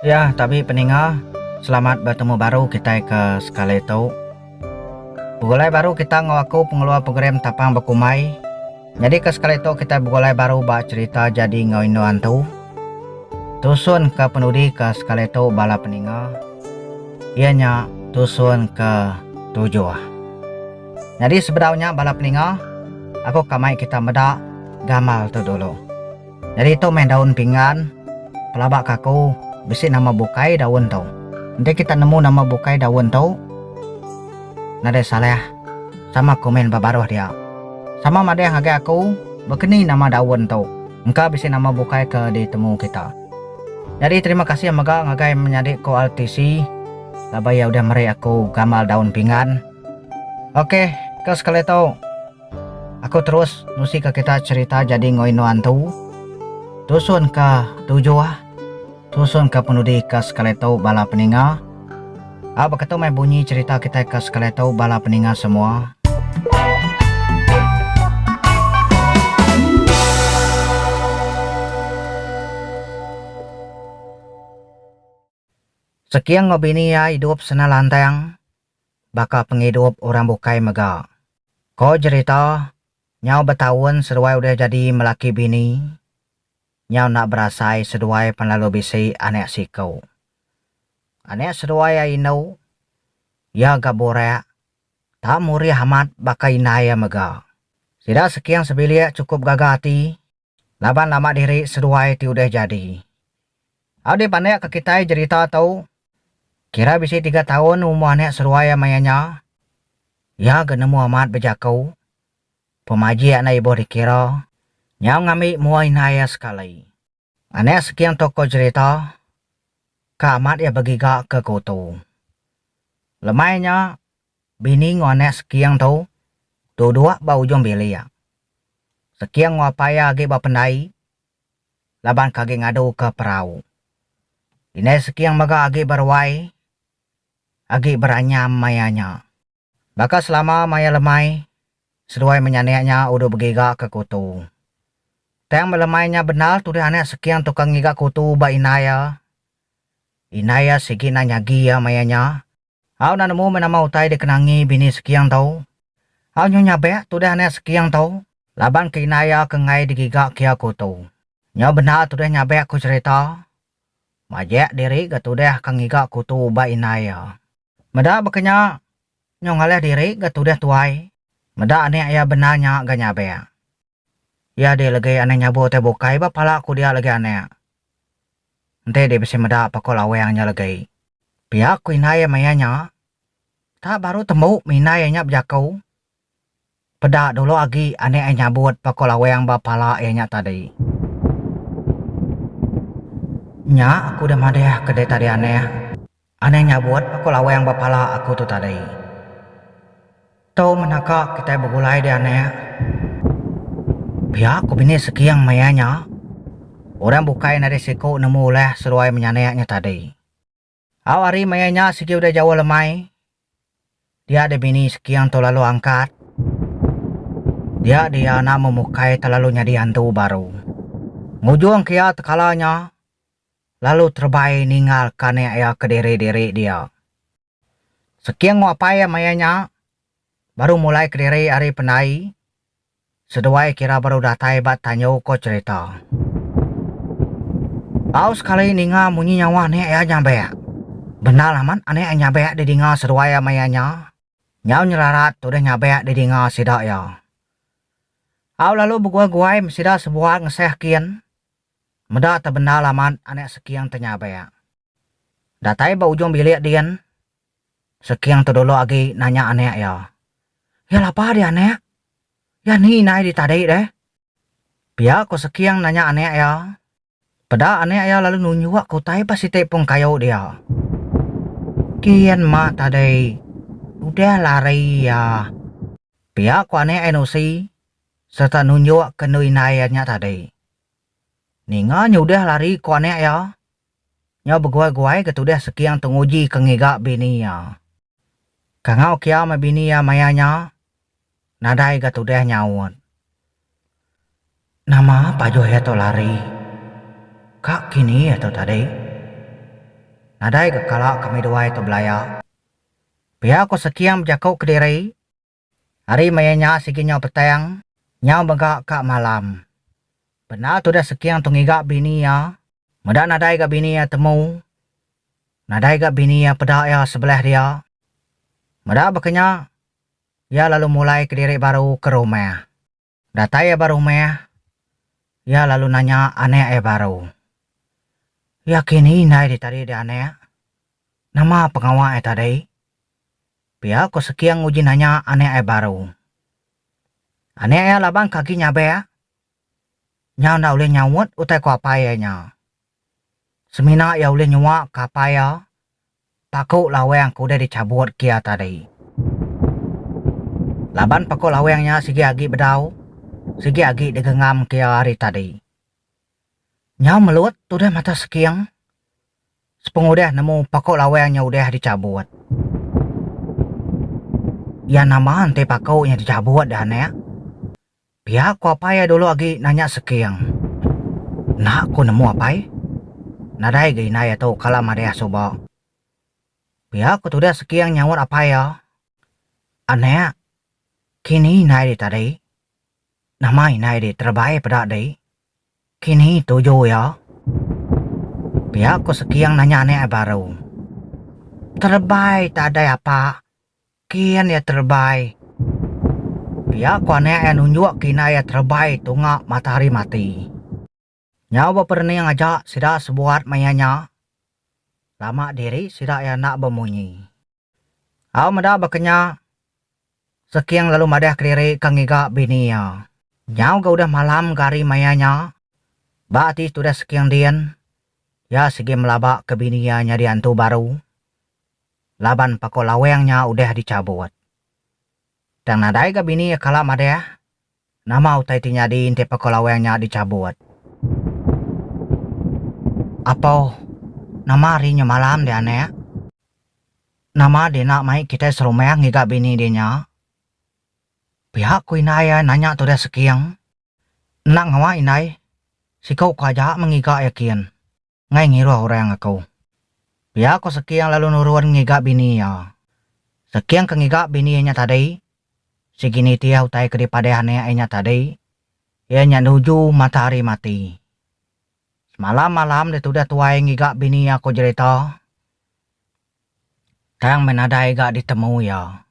Ya tabi peninga, selamat betemu baru kitai ke sekali tu. Begulai baru kita enggau aku pengeluar program Tapang Bekumbai. Nyadi ke sekali tu kitai begulai baru ba cherita jadi enggau indu antu. Tusun ke penudi ke sekali tu bala peninga iya nya tusun ke tujuh. Nyadi sebedau nya bala peninga, aku ka mai kita meda gamal tu dulu. Nyadi tu meh daun pinggan. Pelaba ka aku, bisi nama bukai daun tu. Enti kita nemu nama bukai daun tu, nadai salah sama komen ba baruh dia. Sama madah ngagai aku baka ni nama daun tu, engka bisi nama bukai ke ditemu kita. Nyadi terima kasih mega ngagai menyadi ko RTC laban iya udah meri aku gamal daun pinggan. Ok, ke sekali tu. Aku terus nusika kita cherita jadi ngoi nuan tu. Tusun ka tujuh. Tusun ka penudi ka sekali tu bala peninga. A beketu meh bunyi cherita kitai ka sekali tu bala peninga semua. Seking enggau bini iya idup sena lantang baka pengidup orang bukai mega. Ko jerita, nyau betaun seduai udah jadi melaki bini, nyau enda berasai seduai pan lalu bisi anak siku. Anak seduai iya indu, iya ga burak, tak murih amat baka indai iya mega. Sida seking sebilik chukup gaga ati. Laban nama diri seduai ti udah jadi. Au dipanek ka kitai jerita tu, kira bisi tiga taun umur anek seduai iya maya nya, iya ga nemu amat bejaku, pemajik enda ibuh dikira, nyau ngambi mua indai iya sekali. Anek seking tokoh jerita ka amat iya begiga ke kutu. Lemai nya, Bini enggau anak Seking tu duduk ba ujung bilik. Seking enggau apai iya agi ba pendai laban ke agi ngaduka perau. Indai Seking mega agi beruai agi beranyam maya nya. Baka selama maya lemai, seduai menyanik nya udah begiga ke kutu. Tang meh lemai nya bendar tudah anak Seking tu ke ngiga kutu ba indai iya. Indai iya sigi enda nyagi iya maya nya. Au nan nemu meh nama utai deka nangi bini Sekiang tau. Au nyu nyabek tudah anak Sekiang tau. Laban ke indai iya ke enggai digiga kia ku tu. Nyo bendar tudah nyabek ku cerita. Majek diri ga tudah ka ngiga ku tu ubat indai iya. Meda baka nya, nyo ngalih diri ga tudah tuai. Meda anak iya bendar nya ga nyabek. Iya dih legi anak nyabur utai bukai ba pala aku dia legi anak. Enti dih bisi meda pako lawang nya legi. Pia ku indai iya maya nya. Tak baru tembu indai iya nya bejaku. Peda dulu agi anak iya nyabut pako lawang ba pala iya nya tadi. Nya aku deh madahka deh tadi anak. Anang nyabut aku lawang ba pala aku tu tadi. Tu mena ka kitai begulai dia anak. Pia ku bini Seking maya nya, orang bukai nadai siku nemu ulah seruai menyanak nya tadi. Au hari maya nya sigi udah jauh lemai, dia dia bini Seking tu lalu angkat. Dia dia iya enda memukai telalu nyadi andu baru. Ngujung ke iya tekala nya, lalu terebai ninggal ke anak iya kediri-diri dia. Seking enggau apai iya maya nya baru mulai kediri ari pendai seduai kira baru datai ba tanju ko cherita. Bau sekali ninga munyi nyawa anak iya nyabek. Bendar amat anak iya nyabek didinga seduai iya maya nya. Nyau nyerarat tudah nyabek didinga sida iya. Au lalu beguai-guai mesida sebuat ngeseh kin Meda te bendar lamat anak Seking te nyabak. Datai ba ujung bilik din, Seking tedulu agi nanya anak iya, Iya lapa dih anak? Iya ni inai dih tadi deh? Pia ko Seking nanya anak iya. Peda anak iya lalu nunjuk ke utai ba siti pung kayu dia. Gin mak tadi udah lari iya. Pia ko anak iya Nusi sereta nunjuk ke endu indai iya nya tadi. Ninga nyudah lari ku anak iya. Nyau beguai-guai ke tudah Seking tenguji ke ngiga bini iya. Kangau kia meh bini iya maya nya, nadai ga tudah nyaut. Nama pajuh iya tu lari? Ka kini iya tu tadi? Nadai ga kala kami duai tu belaya. Pia ku Seking bejaku kediri. Hari maya nya sigi nyau petang, nyau mega ka malam. Bendar tudah Seking tu ngiga bini iya, meda nadai ga bini iya temu, nadai ga bini iya peda iya sebelah dia. Meda baka nya, iya lalu mulai kediri baru ke rumah. Datai iya ba rumah, iya lalu nanya anak iya baru, Iya ke ni indai di tadi deh anak? Nama pengawa iya tadi? Pia ko Seking nguji nanya anak iya baru. Anak iya laban ke agi nyabak, nyau enda ulih nyaut utai ko apai iya nya. Semina iya ulih nyuak ke apai iya Paku laweng ke udah dichabut kia tadi. Laban paku laweng nya sigi agi bedau, sigi agi digenggam kia hari tadi. Nyau Melut tudah mata seking sepengudah nemu paku laweng nya udah dichabut. Iya nama enti paku nya dichabut dah anak? Pia ku apai iya dulu agi nanya Seking. Enda ku nemu apai. Nadai ga indai iya tu kala madih suba. Pia ku tudah Seking nyaut apai iya, Anak, kini indai di tadi. Nama indai di terebai peda di. Kini tuju iya. Pia ku Seking nanya anak iya baru. Terebai tadai apa? Kin iya terebai. Pia ku anak iya nunjuk kina iya terebai tunga matahari mati. Nyau beperening aja sida sebuat maya nya. Lama diri sida iya enda bemunyi. Au meda bakanya, Seking lalu madah kediri ke ngiga bini iya. Nyau ga udah malam ga hari maya nya. Ba ati tudah Seking din, iya sigi melaba ke bini iya nyadi antu baru. laban pako laweng nya udah dichabut. Tang nadai ga bini iya kala madah, nama utai ti nyadi enti pako laweng nya dichabut. Apoh, nama ari nya malam deh anak? Nama deh enda mai kitai serumah ngiga bini deh nya? Pia ku indai iya nanya tudah seking. Enda ngawa indai, siku ko aja meh ngiga iya kin. ngai ngiruh orang aku. Pia ko Seking lalu nurun ngiga bini iya. Seking ke ngiga bini iya nya tadi, sigi nitih utai ke dipadah anak iya nya tadi, iya nya nuju mata hari mati. Semalam malam ditudah tuai ngiga bini iya ko jerita, tang meh nadai ga ditemu iya.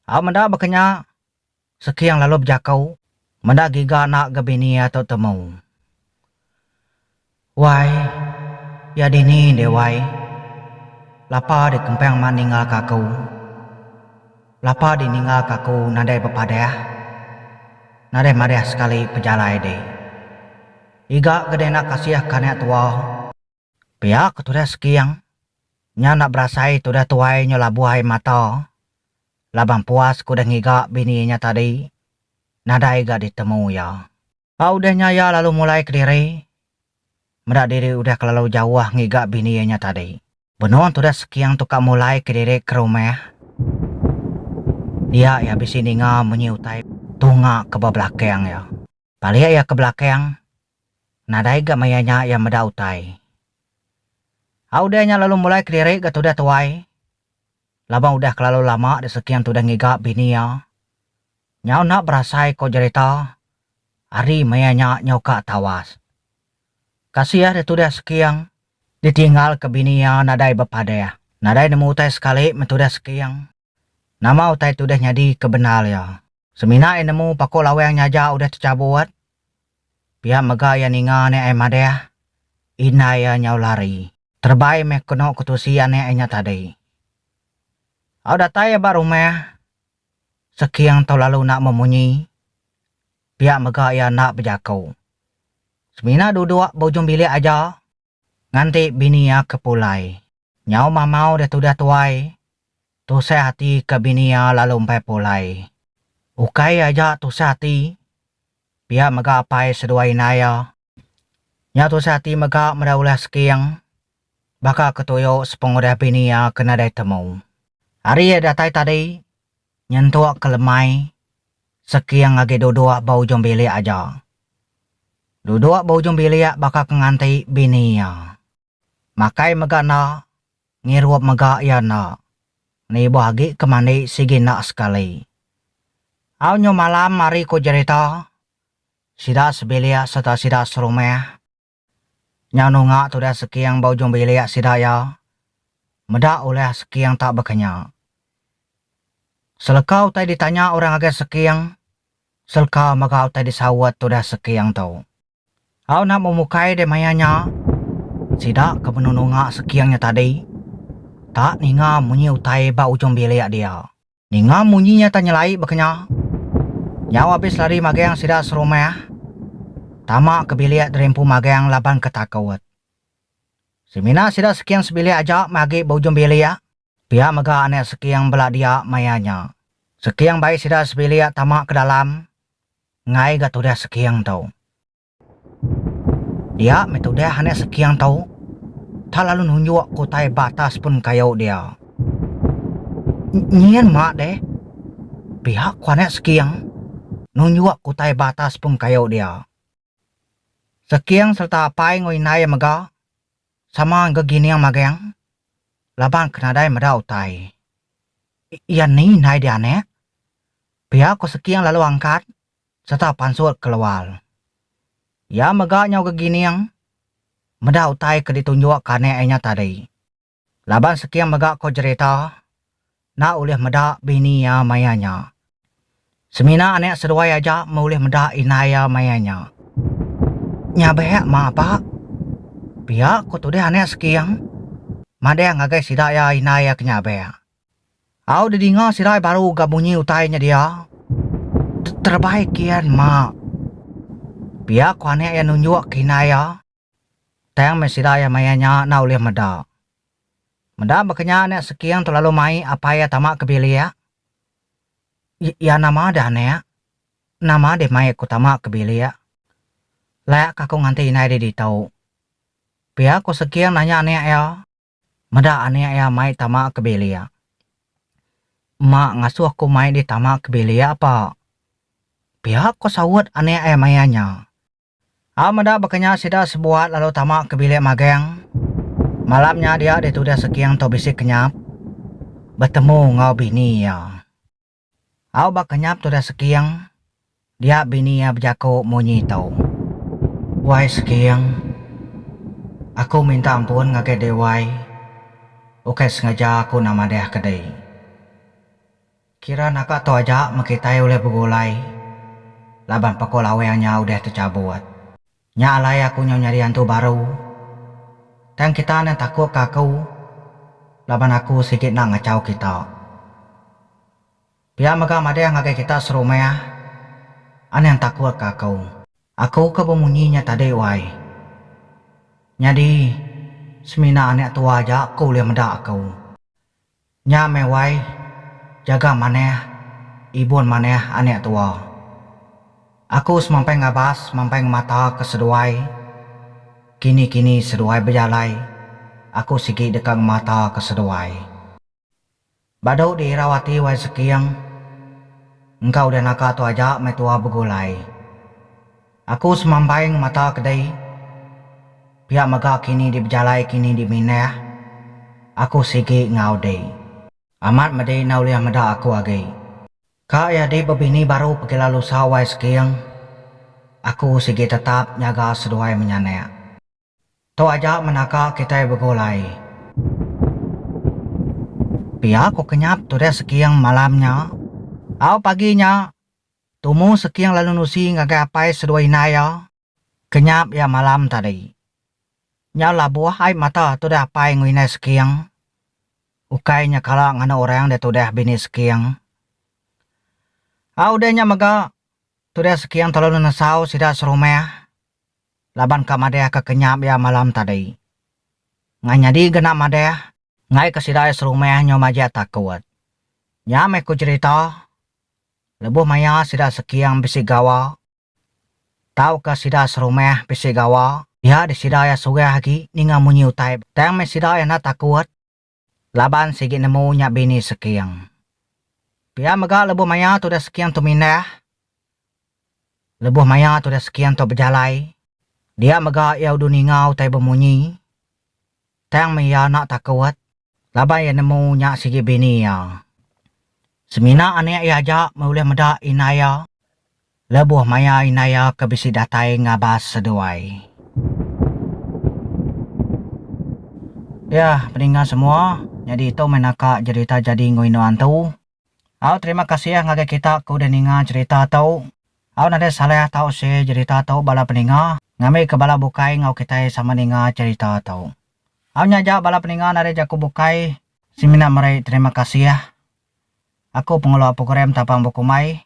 Au meda baka nya, Seking lalu bejakau, meda giga enda ga bini iya tu temu. Wai, iya dini deh wai. Lapa deh kempang mak ninggalka aku. Lapa deh ninggalka aku nadai bepadah. Nadai madah sekali pejalai deh. Iga ga deh enda kasihka anak tua. Pia ke tudah Seking, nya enda berasai tudah tuai nya labuh ai mata. Laban puas ke udah ngiga bini nya tadi, nadai ga ditemu iya. Ba udah nya iya lalu mulai kediri, meda diri udah kelalu jauh ngiga bini nya tadi. Benung tudah Seking tu ka mulai kediri ke rumah, dia iya bisi ninga munyi utai tunga ke ba belakang iya. Balik iya ke belakang, nadai ga maya nya iya meda utai. A udah nya lalu mulai kelirik ga tudah tuai, laban udah kelalu lama diseking tudah ngiga bini iya. Nyau enda berasai ko jerita, ari maya nya nyau ka tawas. Kasih ditudah seking. Ditinggal ke bini iya nadai bepadah. Nadai nemu utai sekali men tudah seking. Nama utai ti udah nyadi ke bendar iya? Semina iya nemu Pakok Lawang nya aja udah techabut. Pia mega iya ninga anak iya madah, indai iya nyau lari. Terebai meh kenu ke tusi anak iya nya tadi. Au datai iya ba rumah, Seking tu lalu enda memunyi. Pia mega iya enda bejaku. Semina duduk ba ujung bilik aja. Nganti bini iya ke pulai. Nyau mamau deh tudah tuai. Tusah ati ke bini iya lalu empai pulai. Ukai iya aja tusah ati. Pia mega apai seduai indai iya. Nya tusah ati mega meda ulah seking. Baka ke tuyo sepengudah bini iya ke nadai temu. Hari iya datai tadi, Nyentuk ke lemai, Seking agi duduk ba ujung bilik aja. Duduk ba ujung bilik baka ke nganti bini iya. Makai mega enda, ngirup mega iya enda. Nibuh agi ke mandi sigi enda sekali. Au nyu malam ari ku jerita, sida sebilik sereta sida serumah. Nyau nunga tudah seking ba ujung bilik sida iya meda ulah seking tak bekenya. Seleka utai ditanya orang ngagai seking, seleka mega utai disaut tudah seking tu. Au enda memukai deh maya nya, sida ke benung nunga seking nya tadi tak ninga munyi utai ba ujung bilik dia. Ninga munyi nya tang nyelai baka nya. Nyau abis lari magang sida serumah tama ke bilik diri empu magang laban ke takut. Semina sida Seking sebilik aja meh agi ba ujung bilik. Pia mega anak Seking bela dia maya nya. Seking bai sida sebilik tama ke dalam enggai ga tudah Seking tu. Dia meh tudah anak Sekiang tu. Tak lalu nunjuk ke utai ba atas pun kayu dia. Nyin ma deh. Pihak ku anak Sekiang nunjuk ke utai ba atas pun kayu dia. Sekiang sereta apai enggau indai iya mega sama engka gining magang laban ke nadai meda utai. Iya ni indai dia anak? Pia ku Sekiang lalu angkat sereta pansut ke luar. Iya mega nyau gegining meda utai ke ditunjuk ke anak iya nya tadi. Laban Sekim mega ko jerita enda ulih meda bini iya maya nya. Semina anak seduai aja meh ulih meda indai iya maya nya. Nya bek mah apa? Pia ko tudih anak Sekim madang ngagai sida iya indai iya ke nya bek. Au didinga sirai baru ga munyi utai nya dia. Terebai kian mak. Pia ku anek iya nunjuk ke indai iya. Tang meh sida iya maya nya enda ulih meda. Meda baka nya anek Seking tu lalu mai apai iya tama ke bilik. Iya nama deh anek? Nama deh mai aku tama ke bilik? Leh ka aku nganti indai deh ditu. Pia ku Seking nanya anek iya. Meda anak iya mai tama ke bilik. Mak ngasuh aku mai di tama ke bilik apa? Pia ko saut anak iya maya nya. A meda baka nya sida sebuat lalu tama ke bilik magang. Malam nya dia ditudih Seging tu bisi kenyap betemu enggau bini iya. Au ba kenyap Tudah Seking, dia bini iya bejaku munyi tu. Wai Seking, aku minta ampun ngagai Dewai, ukai sengaja aku enda madah ke dei. Kira naka tu aja meh kitai ulih begulai laban Pakul Aweng nya udah techabut. Nya alai aku nyau nyadi antu baru. Tang kita endang takut ka aku laban aku sigi endang ngachau kita. Pia mega madah ngagai kita serumah endang takut ka aku. Aku ke bemunyi nya tadi wai. Nyadi semina anak tua aja ke ulih meda aku. Nya meh wai, jaga manah ibun manah anak tua. Aku semampai ngabas semampai ngemata ke seduai, kini kini seduai bejalai aku sigi deka ngemata ke seduai. Badu di irau ati wai seking, engka udah naga tu aja meh tua begulai. Aku semambaing mata kedai pia mega kini di bejalai kini di mindah aku sigi enggau dei. Amat medi enda ulih meda aku agi. Ka iya di bebini baru pegila lusa wai seging aku sigi tetap nyaga seduai menyanak. Tu aja menaka kitai begulai. Pia ku kenyap turis Seking malam nya. Au pagi nya, tumu Seking lalu nusi ngagai apai seduai indai iya, kenyap iya malam tadi. Nyau labuh ai mata tudah apai enggau indai Seking. Ukai nya kala nganu orang dia tudah bini Seking. Au udah nya mega, tudah Seking telalu nesau sida serumah. laban ka madah ka kenyap iya malam tadi. Ngah nyadi genap madah. Enggai ka sida iya serumah nyau majak takut. Nya meh ku cherita. Lebuh maia sida seking bisi gawa. Tau ka sida serumah bisi gawa. Iya di sida iya surah agi ninga munyi utai. Tang meh sida iya enda takut. Laban sigi nemu nya bini Seking. Pia mega lebuh maya tudah Seking tu mindah. Lebuh maya tudah Seking tu bejalai, dia mega iya udu ninga utai bemunyi. Tang meh iya enda takut. Laban iya nemu nya sigi bini iya. Semina anak iya aja meh ulih meda indai iya. Lebuh maya indai iya ke bisi datai ngabas seduai. Dia, peninga semua, nyadi tu meh naka jerita jadi enggau indu antu. Au terima kasih ngagai kita ke udah ninga jerita tu. Au nadai salah tau share jerita tu bala peninga ngambika bala bukai enggau kitai sama ninga jerita tu. Au nya aja bala peninga nadai jaku bukai. Semina meri terima kasih. Aku pengelola program Tapang Bukumbai.